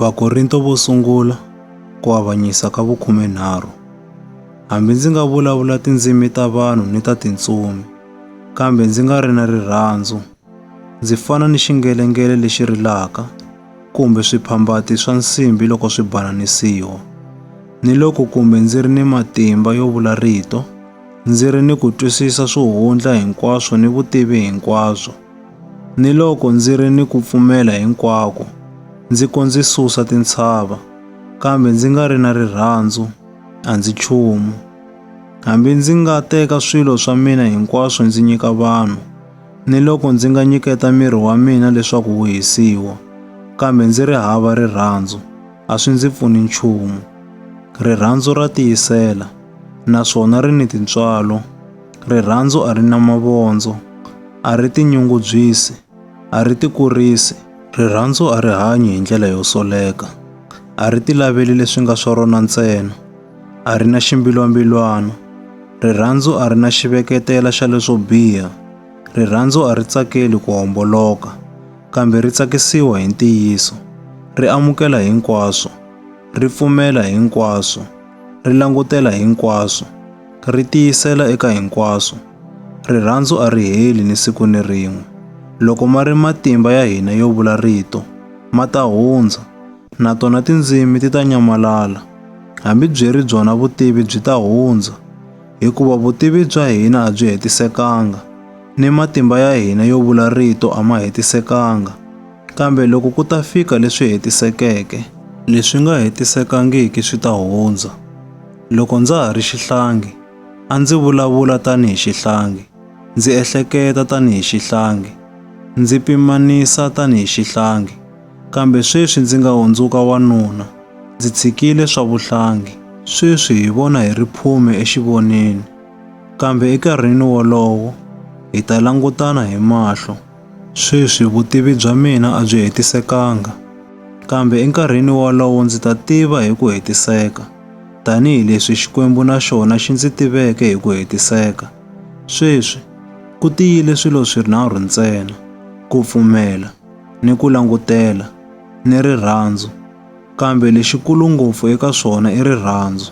Vakorinto vo sungula ku avanyisa ka vukhumenharhu. Hambi ndzi nga vulavula tindzimi ta vanhu ni ta tintsumi, kambe ndzi nga ri na rirhandzu, ndzi fana ni xingelengele lexi rilaka kumbe swiphambati swa nsimbi loko swi bananisiwa. Ni loko kumbe ndzi ri ni matimba yo vula rito, ndzi ri ni ku twisisa swo hundla hinkwaswo ni vutivi hinkwabyo, Ni loko ndzi ri ni ku pfumela hinkwako, ndzi ko ndzi susa tintshava, kambe ndzi nga ri na rirhandzu, a ndzi nchumu. Hambi ndzi nga teka swilo swa mina hinkwaswo ndzi nyika vanhu, ni loko ndzi nga nyiketa miri wa mina leswaku wu hisiwa, kambe ndzi ri hava rirhandzu, a swi ndzi pfuni nchumu. Rirhandzu ra tiyisela, naswona ri ni tintswalo. Rirhandzu a ri na mavondzo, a ri tinyungubyisi, a ri tikurisi. Rirhandzu a ri hanyi hi ndlela yo soleka, a ri tilaveli leswi nga swa rona ntsena, a ri na ximbilwambilwana. Rirhandzu a ri na xiveketela xa leswo biha. Rirhandzu a ri tsakeli ku homboloka, kambe ri tsakisiwa hi ntiyiso. Ri amukela hinkwaswo, ri pfumela hinkwaswo. ri langutela hinkwaswo, ri tiyisela eka hinkwaswo. Rirhandzu a ri heli ni siku ni rin'we. Loko ma ri matimba ya hina yo vula rito, ma ta hundza, na tona tindzimi ti ta nyamalala, hambi byi ri byona vutivi byi ta hundza, hikuva vutivi bya hina a byi hetisekanga, ni matimba ya hina yo vula rito a ma hetisekanga. Kambe loko ku ta fika leswi hetisekeke, leswi nga hetisekangiki swi ta hundza. Loko ndza ha ri xihlangi, a ndzi vulavula tanihi xihlangi, ndzi ehleketa tanihi xihlangi, ndzi pimanisa tanihi xihlangi. Kambe sweswi ndzi nga hundzuka wanuna, ndzi tshikile swa vuhlangi. Sweswi hi vona hi ri phume exivoneni, kambe ekarhini wolowo hi ta langutana hi mahlo. Sweswi vutivi bya mina a byi hetisekanga, kambe enkarhini wolowo ndzi ta tiva hi ku hetiseka, tanihi leswi Xikwembu na xona xi ndzi tiveke hi ku hetiseka. Sweswi, ku tiyile swilo swinharhu ntsena, ku pfumela, ni ku langutela, ni rirhandzu, kambe lexikulu ngopfu eka swona i rirhandzu.